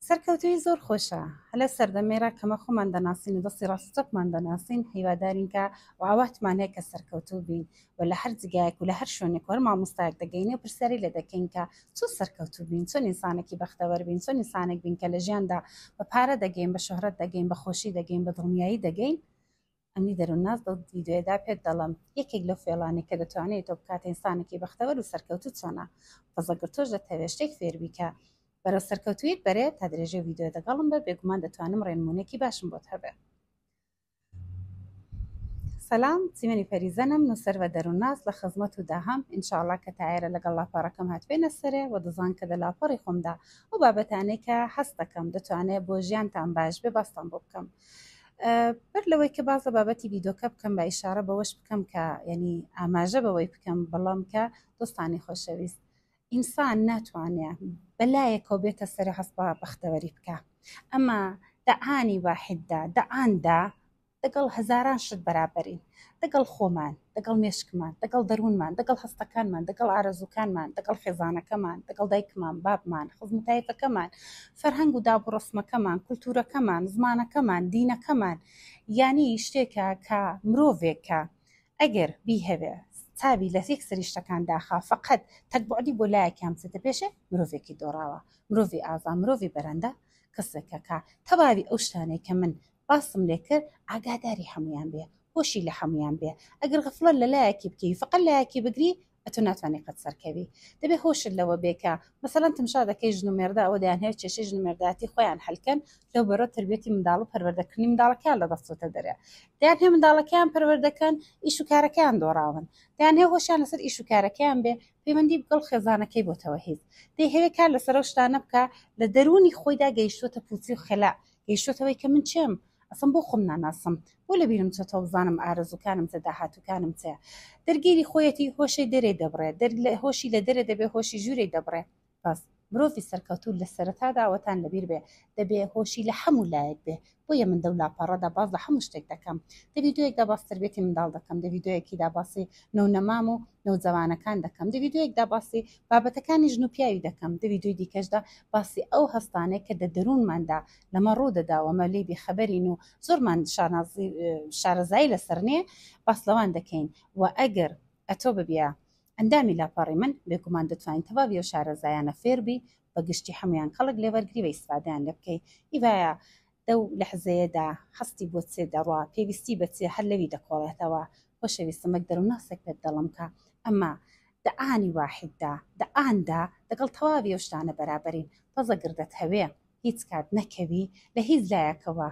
سەرکەوتوی زۆر خۆشە هەلە سەردەمێرا کەمە خۆمان دەناسین و دەستی ڕاستەقمان دەناسین هیوادارین کە و ئاواتمان هەیە کە سەرکەوتوو بین و لە هەر جگایەک و لە هەر شوێنێک هەر مامۆستایەک دەگەینێ و پرسیاری لە دەکەین کە چۆن سەرکەوتوو بین چۆن ئینسانێکی بەختەوەر بین چۆن ئینسانێک بین کە لە ژیاندا بە پارە دەگەین بە شهرەت دەگەین بە خۆشی دەگەین بە دڵنیایی دەگەین ئەمنی دەرونناس بەو ڤیدیۆیەدا پێت دەڵم یەکێک لەو فێڵانەی کە دەتوانێت تۆ بکاتە ئینسانێکی بەختەوەر و سەرکەوتوو چۆنە بەزە گەر تۆش دەتەوێت شتێک فێر بیکە بەرەو سەرکەوتویت بەرێ تا درێژەی ڤیدیۆ دەگەڵم بە بێگومان دەتوانم ڕێنمونێکی باشم بۆت هەبێ سلام سیمەنی پەریزەنم نووسەر بە دەرونناس لە خزمەت و داهام ئینشاءڵا کە تایرە لەگەڵ لاپەڕەکەم هاتبێنە سەرێ و دەزان کە دە لاپەڕی خۆمدا ئەو بابەتانەی کە هەست دەکەم دەتوانێت بۆ ژیانتان باش بێ باستان بۆ بکەم بەر لەوەی کە باز لە بابەتی ڤیدۆکە بکەم بە ئیشارە بەوەش بکەم کە یعنی ئاماژە بەوەی بکەم بەڵام کە دۆستانی خۆشەویست ئینسان ناتوانێت بەلایەکەوە بێتە سەری هەستا بەختەوەری بکە ئەمە دەعانی واحددا دەعاندا دەگەڵ هەزاران شت بەرابەرین دەگەڵ خۆمان دەگەڵ مێشکمان، دەگەڵ دەروونمان، دەگەڵ هەستەکانمان، دەگەڵ ئارەزووکانمان، دەگەڵ خێزانەکەمان، دەگەڵ دایکمان، بابمان، خزم و تایفەکەمان، فەرهەنگ و داب و ڕەسمەکەمان، کولتوورەکەمان، زمانەکەمان، دینەکەمان، یانی شتێکە کە مرۆڤێک کە ئەگەر بیهەوێ چاوی لە یەک سەری شتەکان داخا فقط تەک بۆعدی بۆ لایەکیان بچێتە پێشێ مرۆڤێکی دۆڕاوە مرۆڤی ئازا مرۆڤی بەرەندە کەسێکەکە تەواوی ئەو شتانەی کە من باستم لێ کرد ئاگاداری هەموویان بێ هۆشی لە هەموویان بێ ئەگەر غەفڵەت لە لایەکی بکەی فقە لایەکی بگری ئەتو ناتوانانی قەت سەرکەوی دەبێ هۆشت لەوە بێ کە مەسەلەن تمشا دەکەی ژن و مێردە ئەوە دەیانهەوێ کێشەی ژن و مێردایەتی خۆیان هەل کەن لەو بەرەو تەربیەتی منداڵ و پەروەردەکردنی منداڵەکەیان لە دەستچۆتە دەرێ دەیانهەوێ منداڵەکەیان پەروەردە کەن ئیش و کارەکەیان دۆڕاون دەیانهەوێ هۆشیان لەسەر ئیش و کارەکەیان بێ پەیوەندی بگەڵ خێزانەکەی بۆتەوە هیچ دەیهەوێ کار لەسەر ئەو شتانە بکا لە دەروونی خۆیدا گەیشتووەتە پووچی و خەلا گەیشتۆتەوەی کە من چێم ئەسڵەن بۆ خۆم ناناسم بۆ لە بیرم چۆتەوە بزانم ئارەزووکانم چە داهاتووکانم چەیە دەرگیری خۆیەتی هۆشەی دەرێ دەبڕێ دەر لە هۆشی لە دەرێ دەبێ هۆشی ژوورێ دەبڕێ بەس مرۆڤی سەرکەوتوو لە سەرەتا داوەتان لەبیر بێ دەبێ هۆشی لە هەموو لایەک بێ بۆیە من دەو لاپەڕەدا باز لە هەموو شتێک دەکەم دە ڤیدیۆیەکدا باس تربێتی منداڵ دەکەم دە ڤیدیۆیەکیدا باسی نەونەمام و نەوجەوانەکان دەکەم دە ڤیدیۆیەکدا باسی بابەتەکانی ژن و پیاوی دەکەم دە ویدۆی دیکەشدا باسی ئەو هەستانەی کە دە دەروونماندا لەمە ڕوو دەدا و مە لێی بێ خەبەرین و زۆرمان شانازی شارەزایی لەسەر نێ باس لەوان دەکەین و ئەگەر ئەتۆ ببیە ئەندامی لاپەڕی من بێگومان دەتوانی تەواوی ئەو شارەزایانە فێر بی بە گشتی حەموویان کەڵک لێ وەرگری و ئیسفادەیان لێ بکەی ئیڤایا لەو لەحزەیەدا هەستی بۆ چێ دەڕوا، پێویستی بە چێ هەر لەوی دەکۆڵێتەوە. خۆشەویستم وەک دەروونناسێک پێت دەڵێم کە ئەمە دە ئانی واحیددا، دە ئاندا دەگەڵ تەواوی ئەو شتانە بەرابەرین. تازە گەر دەتهەوێ هیچ کات نەکەوی لە هیچ لایەکەوە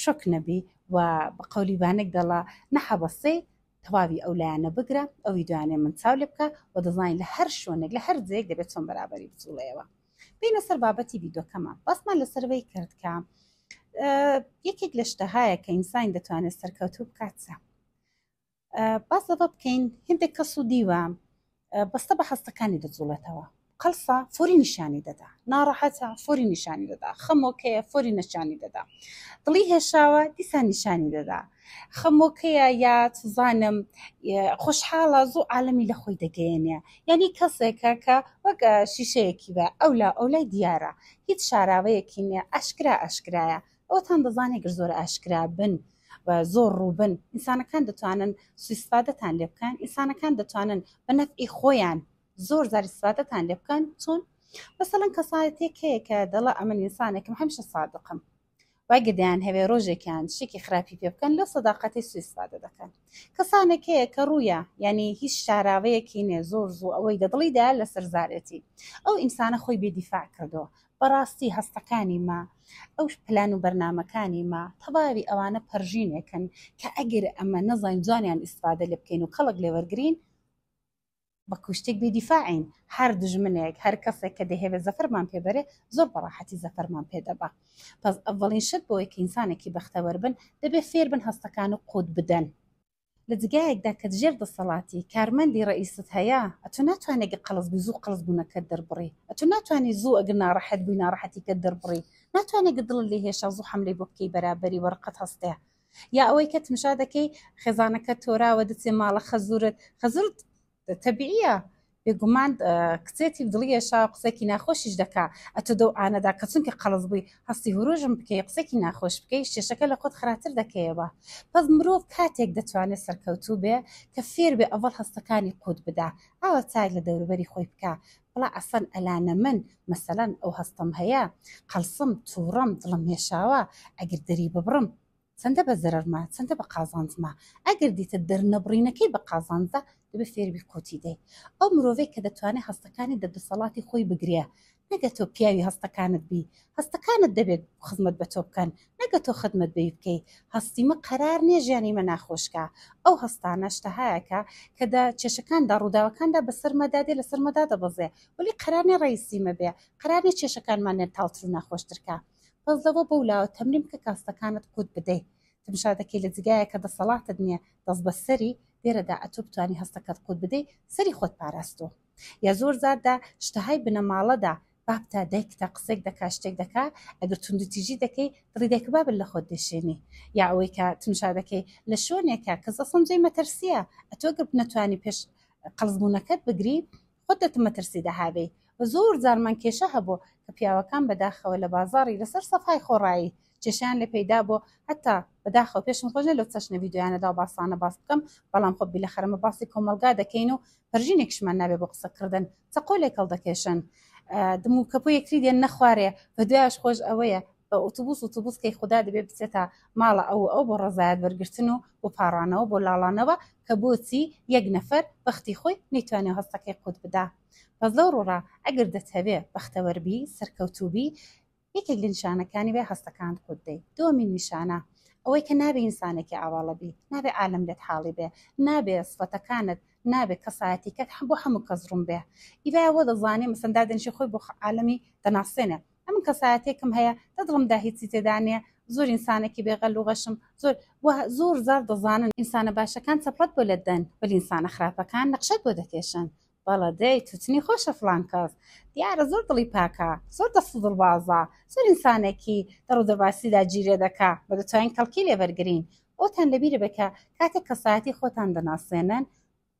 شۆک نەبی و بە قەولی بانگ دەڵا نە هەبەسەی تەواوی ئەو لایەنە بگرە، ئەوی دوانێ من چاو لێ بکە و دەزانی لە هەر شوێنێک لە هەر جێیەک دەبێ چۆن بەرابەری بجوڵێیەوە. بینە سەر بابەتی ڤیدۆکەمان باسمان لەسەرەوەی کرد کە یەکێک لە شتەهایە کە ئینسانی دەتوانێت سەرکەوتوو بکاتە باس لەوە بکەین هندێک کەس و دیوە بەستە بە هەستەکانی دەجوڵێتەوە قەلسا فۆری نیشانی دەدا ناڕەحەتە فۆری نیشانی دەدا خەمۆکەیە فۆری نەشانی دەدا دڵی هێشاوە دیسان نیشانی دەدا خەمۆ کەیە یا چزانم خۆشحاڵە زۆ عالەمی لە خۆی دەگەیەنێ یعنی کەسێکە کە وەک شیشەیەکی بە ئەو لا ئەو لای دیارە هیچ شاراوەیەکی نیە ئاشکرا ئاشکرایە ئەوتان دەزانێ گەر زۆر ئاشکرا بن و زۆر ڕووبن ئینسانەکان دەتوانن سویسفادەتان لێ بکەن ئینسانەکان دەتوانن بە نەفعی خۆیان زۆر زار سفادەتان لێ بکەن چۆن مەسەلەن کەسایەتێک هەیە کە دەڵە ئەمن ئینسانێکم هەمیشە سادقم واگە دەیان هەوێ ڕۆژێکیان شتێکی خراپی پێ بکەن لەو سەداقەتی سویسفادە دەکەن کەسانێک هەیە کە ڕوویە یعنی هیچ شاراوەیەکی نێ زۆر زوو ئەوەی دەدڵیدا لەسەر زارێتی ئەو ئینسانە خۆی بێدیفاع کردەوە بەڕاستی هەستەکانی ما ئەو پلان و بەرنمەکانی ما تەواوی ئەوانە پەرژینێکن کە ئەگەر ئەمە نەزانین جوانیان ئیسفادە لێ بکەین و کەڵک لێوەرگین بە کوشتیک بی دیفاعین هەر دوژمنێک هەر کەسێک کە دەیهەوێ زەفەرمان پێ بەرێ زۆر بە ڕاحەتی زەفەرمان پێ دەبا پەس ئەڤەڵین شت بۆیە کە ئینسانێکی بەختەوەر بن دەبێ فێر بن هەستەکان و قووت بدەن لە جگایەکدا کە دژێر دەسەڵاتی کارمەندی ڕەئیست هەیە ئەتۆ ناتوانێ گە قەڵس بی زوو قەڵس بوونەکەت دەربڕی ئەتۆ ناتوانانی زوو ئەگەر ناڕەحەت بووی ناڕەحەتیکەت دەربڕی ناتوانێ گە دڵت لێ هێشا زوو حەملەی بۆ بکەی بەرابەری وە ڕقت هەستێ یا ئەوەی کە تمشا دەکەی خێزانەکە تۆراوە دەچێ ماڵە خەزورت خەزورت تەبیعە بێگومان کچێتی دڵیەشا قسەکی ناخۆشیش دەکا ئەتۆ دەو ئانەدا کە چونکە قەڵز بووی هەستی هوروژم بکەی قسەکی ناخۆش بکەی شێشەکە لە خۆت خراتر دەکەیەوە پس مرۆڤ کاتێک دەتوانێت سەرکەوتوو بێ کە فێر بێ ئەڤڵ هەستەکانی قووت بدا ئاوە چای لە دەوروبەری خۆی بکە وەڵا عەفەن ئەلانە من مەسەلەن ئەو هەستەم هەیە قەڵسم توڕەم دڵم هێشاوە ئەگر دەری ببڕم چەندە بە زەرەرمە چەندە بە قازانجمە ئەگر دیتە دەرنەبڕینەکەی بە قازانجە دەبێ فێربی قوتی دەی ئەو مرۆڤەی کە دەتوانێت هەستەکانی دە دەسەڵاتی خۆی بگرێ نەگە تۆ پیاوی هەستەکانت بی هەستەکانت دەبێت خزمەت بە تۆ بکەن نە کە تۆ خدمەت بەوی بکەی هەستیمە قەرار نیە ژیانی مە ناخۆش کا ئەو هەستانە شتەهایەکە کە دە کێشەکان دا ڕووداوەکاندا بەسەر مە دادێ لەسەر مە دادەبەزێ وەلی قەرار نیە ڕەیسی مە بێ قەرار نیە کێشەکانمان نێر تاڵتر و ناخۆشتر کا بەس دەوە بەو لاوە تەمرین بکە کە هەستەکانت قوت بدەی تمشا دەکەی لە جگایە کە دەسەڵاتت نیە دەست بەسەری لێرەدا ئەتۆ بتوانی هەستەکەت قوت بدەی سەری خۆت پاراستوە. یا زۆر زار دە شتەهای بنەماڵە دا باب تا دایکتا قسەیک دەکا شتێک دەکا ئەگەر توندو تیژی دەکەی دڵی دایکو بابت لە خۆت دەشێنی یا ئەوەی کە تمشا دەکەی لە شۆنێکە کەس ئەسڵەن جێی مەترسیە ئەتۆ گەر نەتوانی پێش قەڵس بونەکەت بگری خۆت دەتم مەترسی دا هابێی وە زۆر زارمان کێشە هەبۆ کە پیاوەکان بەداخەوە لە بازاڕی لەسەر سەفای خۆڕایی کێشەیان لێ پەیدا بۆ هەتا بەداخەوە پێشم خۆش لەو چەشنە ڤیدیۆیانەدا و باسانە باس بکەم بەڵام خۆ بیلە خەرمە باسی کۆمەلگا دەکەین و پەرژینێکشمان نابێ بۆ قسەکردن چەقۆ لێ کەڵ دەکێشن دم و کەپۆ یەکتری دێن نەخوارێ بە دوایش خۆش ئەوەیە بە ئۆتوبوس و توبوس کەی خوددا دەبێ بچێتە ماڵە ئەو ئەو بۆ ڕزایەت بەرگرتن و بۆ پاڕانەوە بۆ لاڵانەوە کە بۆچی یەک نەفەر بەختی خۆی نەیتوانێ هەستەکەی قوت بدا بەس لەو ڕوڕا ئەگەر دەتەوێ بەختەوەربی سەرکەوتوبی یەکێک لە نیشانەکانی بێ هەستەکانت خۆت دەی دومین نیشانە ئەوەی کە نابێ ئینسانێکی ئاواڵە بی نابێ عالم لێت حاڵی بێ نابێ سفەتەکانت نابێ کەسایەتیکەت هەم بۆ هەموو کەس ڕوون بێ ئیبا وە دەزانێ مەسەندا دەنشی خۆی بۆ عالمی دەناسێنێ ئەمن کەسایەتێکم هەیە دەدڵمدا هیچی تێدا نیە زۆر ئینسانێکی بێغەل و غەشم زۆر زۆر زار دەزانن ئینسانە باشەکان چەپڵەت بۆ لە دەن بەل ئینسانە خراپەکان نەخشەت بۆ دەکێشن بەڵە دەی تو چنی خۆشە فڵان کەس دیارە زۆر دڵی پاکە زۆر دەست و دڵبازە زۆر ئینسانێکی دەڕ و دەباسیدا جیرێ دەکا بە دەتوانین کەڵکی لێ بەرگرین ئەوتان لەبیرە بێ کە کاتێک کەسایەتی خۆتان دەناسێنن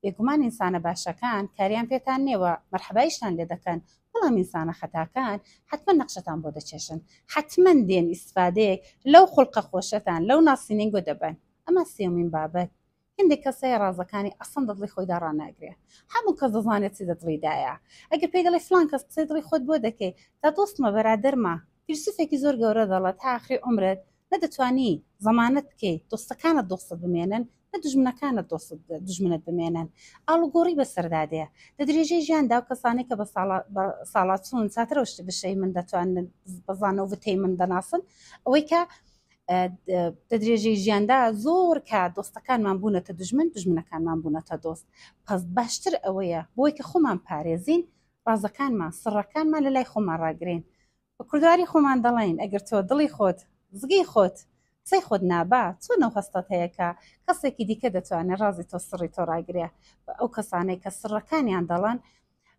بێگومان ئینسانە باشەکان کاریان پێتان نێوە مەرحەبایشتان لێ دەکەن بەڵام ئینسانە خەتاکان حتمما نەخشەتان بۆ دەچێشن حتمما دێن ئیسفادەیەک لەو خوڵقە خۆشەتان لەو ناسیننگۆ دەبن ئەمە سێومین بابەت هەندێک کەس هەیە ڕازەکانی ئەسڵەن دە دڵی خۆیدا ڕاناگرێ هەموو کەس دەزانێ چی دە دڵیدایە ئەگەر پێی دەڵێی فڵان کەس قسەی دڵی خۆت بۆ دەکەی دە دۆستمە بەرادەرمە فیلسوفێکی زۆر گەورە دەڵێت تا ئاخری عومرت نە دەتوانی زەمانەت بکەی دۆستەکانت دۆستت بمێنن نە دوژمنەکانت دۆستت دوژمنت بمێنن ئاڵوگۆڕی بەسەردا دێ لە درێژەی ژیاندا ئەو کەسانەی کە بە ساڵا بە ساڵا چوون چاترەوە شتی بشەی من دەتوانن بە زانەو وتەی من دەناسن ئەوەی کە دە درێژەی ژیاندا زۆر کات دۆستەکانمان بوونەتە دژمن دژمنەکانمان بوونەتە دۆست پس باشتر ئەوەیە بۆی کە خۆمان پارێزین ڕازەکانمان سڕەکانمان لە لای خۆمان ڕاگرین بە کوردواری خۆمان دەڵین ئەگەر تۆ دڵی خۆت زگی خۆت قسەی خۆت نابا چۆن ئەو هەستەت هەیە کە کەسێکی دیکە دەتوانێت ڕازی تۆ سڕی تۆ ڕاگرێ ئەو کەسانەی کە سڕەکانیان دەڵێن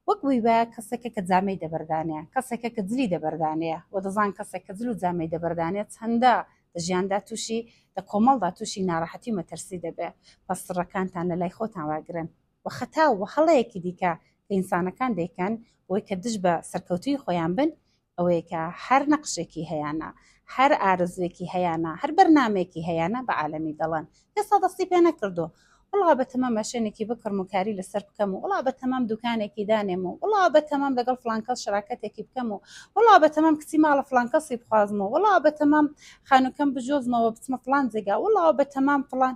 وەک بووی بە کەسێکە کە جامەی دەبەردانەیە کەسێکە کە جلی دەبەردانەیە و دەزان کەسێک کە جل و جامەی دەبەردانێ چەندە لە ژیاندا تووشی لە کۆمەڵدا تووشی ناڕەحەتی و مەترسی دەبێ پس سڕەکانتان لە لای خۆتان واگرن و خەتا و هەڵەیەکی دیکە کە ئینسانەکان دەیکەن بۆی کە دژ بە سەرکەوتوی خۆیان بن ئەوەی کە هەر نەقشێکی هەیانە، هەر ئارەزووێکی هەیانە، هەر بەرنامەیەکی هەیانە بە عالەمی دەڵێن، ئێستا دەستی پێ نەکردووە، وڵا بەتەمام ماشێنێکی بکڕم و کاری لەسەر بکەم و وڵا بەتەمام دوکانێکی دانێم و وڵا بەتەمام لەگەڵ فڵان کەس شراکەتێکی بکەم و وڵا بەتەمام کچی ماڵە فڵان کەسی بخوازم و وڵا بەتەمام خانووکەم بجۆزمەوە بچمە فڵان جێگا وڵا بەتەمام فڵان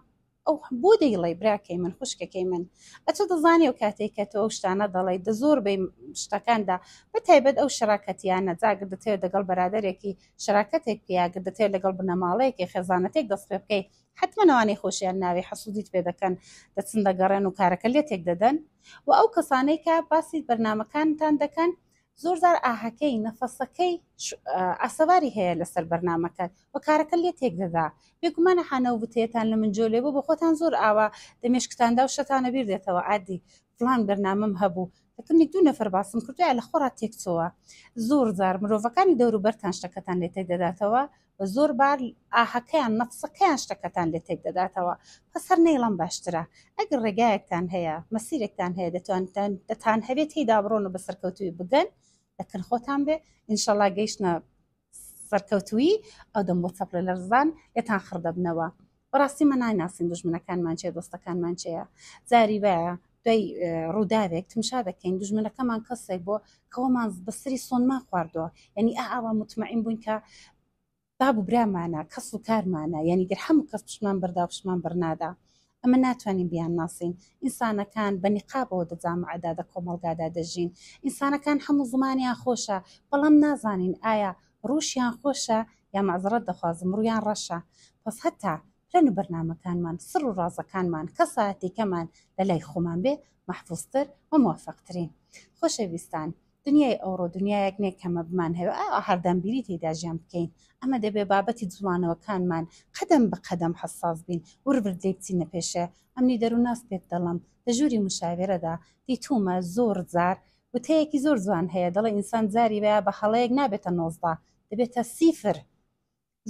ئۆه بۆ دەیڵێی براکەی من خوشکەکەی من ئەتۆ دەزانی ئەو کاتەی کە تۆ ئەو شتانە دەڵێی دە زۆر بەی شتەکاندا بە تایبەت ئەو شراکەتیانە جاگر دەتەوێت دەگەڵ بەرادەرێکی شراکەتێک پیاگر دەتەوێت لەگەڵ بنەماڵەیەکی خێزانەتێک دەست پێ بکەی حتممە ئەوانەی خۆشیان ناوی حەسوودیت پێ دەکەن دەچن دەگەڕێن و کارەکە لێتێک دەدەن و ئەو کەسانەی کە باسی بەرنمەکانتان دەکەن زۆر جار ئاهەکەی، نەفەسەکەی، ئاسەواری هەیە لەسەر بەرنامەکەت و کارەکە لێ تێک دەدا. بێگومانە حانا و وتەیەتان لە من جۆلێ بوو، بە خۆتان زۆر ئاوا لە مێشکتاندا و شتانە بیر دێتەوە، ئادی، فڵان بەرنامەم هەبوو، تەکەنێک دوو نەفەر باسم کردوویە لە خۆڕا تێک چۆوە. زۆر جار مرۆڤەکانی دەوروبەرتان شتەکەتان لێ تێک دەداتەوە و زۆر بار ئاهەکەیان نەفسەکەیان شتەکەتان لێ تێک دەداتەوە پەس هەر نەیڵەم باشترە ئەگەر ڕێگایەکتان هەیە مەسیرێکتان هەیە دەتوانتان دەتان هەبێت تێیدا بڕۆن و بە سەرکەوتوی بگەن لەکن خۆتان بێ ئینشەڵا گەیشتە سەرکەوتوی ئەو دەم بۆ چەپڵە لەرزان لێتان خڕ دەبنەوە بەڕاستی مە نایناسین دوژمنەکانمان چێ دۆستەکانمان چێە زاری وایە دوای ڕووداوێک تمشا دەکەین دژمنەکەمان کەسێک بۆ کەەوەمان بەسری سۆنمان خواردەوە یعنی ئاوا متمەعین بووین کە باب و برامانە کەس و کارمانە یعنی گەر هەموو کەس پشمان بەردا و پشمان بەرنادا ئەمە ناتوانین بیان ناسین ئینسانەکان بە نقابەوە دەجامعدادە کۆمەلگادا دەژین ئینسانەکان هەموو زمانیان خۆشە بەڵام نازانین ئایا ڕوشیان خۆشە یا مەعزرەت دەخوازم ڕویان ڕەشە بەس هەتا پلەن و بەرنامەکانمان سڕ و ڕازەکانمان کەساتیکەمان لە لای خۆمان بێ مەحفوز تر و موفق ترین خۆشەویستان دنیای ئەوڕۆ دنیایەک نیە کە مە بمانهەوێ ئا هەردەم بیری تیدا ژیان بکەین ئەمە دەبێ بابەتی جوڵانەوەکانمان قەدەم بە قەدەم حەساس بین ورد ورد لێی بچینە پێشێ ئەمنی دەروناس پێت دەڵم لە ژوری مشاوێرەدا دیتومە زۆر جار وتەیەکی زۆر جوان هەیە دەڵێ ئینسان جاری وایە بە هەڵەیەک نابێتە نۆزدە دەبێتە سیفر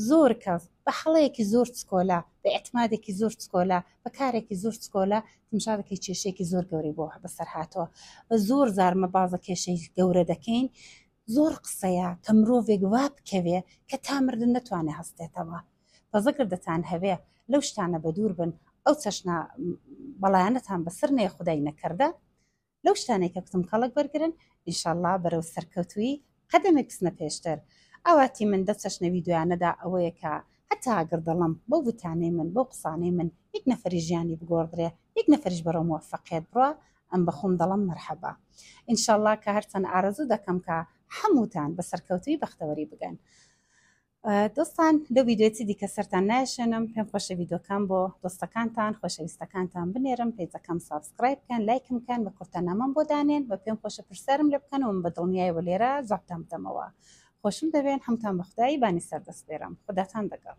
زۆر کەس بە هەڵەیەکی زۆر چکۆلە بە ئێعتمادێکی زۆر چکۆلە بە کارێکی زۆر چکۆلە تمشا دەکەی کێشەیەکی زۆر گەورەی بۆ بەسەر هاتووە بە زۆر جار مەبازە کێشەی گەورە دەکەین زۆر قسەیە کە مرۆڤێک وا بکەوێ کە تا مردن نەتوانێ هەستێتەوە بەزەگەر دەتان هەوێ لەو شتانە بە دوور بن ئەو چەشنە بەڵایەنەتان بەسەر نێ خودای نەکردە لەو شتانەی کە کوتم کەڵک وەرگرن ئینشاڵڵا بەرەو سەرکەوتوویی قەدەمێک بچنە پێشتر ئاواتی من دە چەشنە ویدۆیانەدا ئەوەیە کە هەتا ئەگەر دڵم بەو وتانەی من بەو قسانەی من یەک نەفەری ژیانی بگۆڕدرێ یەک نەفەریش بەرەو موەفەقیەت بڕا ئەم بە خۆم دەڵم مەرحەبا ئینشاڵڵا کە هەرچەند ئارەزوو دەکەم کە هەمووتان بە سەرکەوتووی بەختەوەری بگەن دۆستان لەو ڤیدیۆی چی دیکە سەرتان نایشێنم پێم خۆشە ڤیدیۆکان بۆ دۆستەکانتان خۆشەویستەکانتان بنێرم پەیجەکەم سابسکرایب بکەن لایکم بکەن بە کورتەنامەم بۆ دانێن بە پێم خۆشە پرسیارم لێ بکەن و من بە دڵنیایەوە لێرە جوابتان بدەمەوە خۆشم دەوێن هەمووتان بە خودای بانی سەردەسپێرم خوداتان دەگەڵ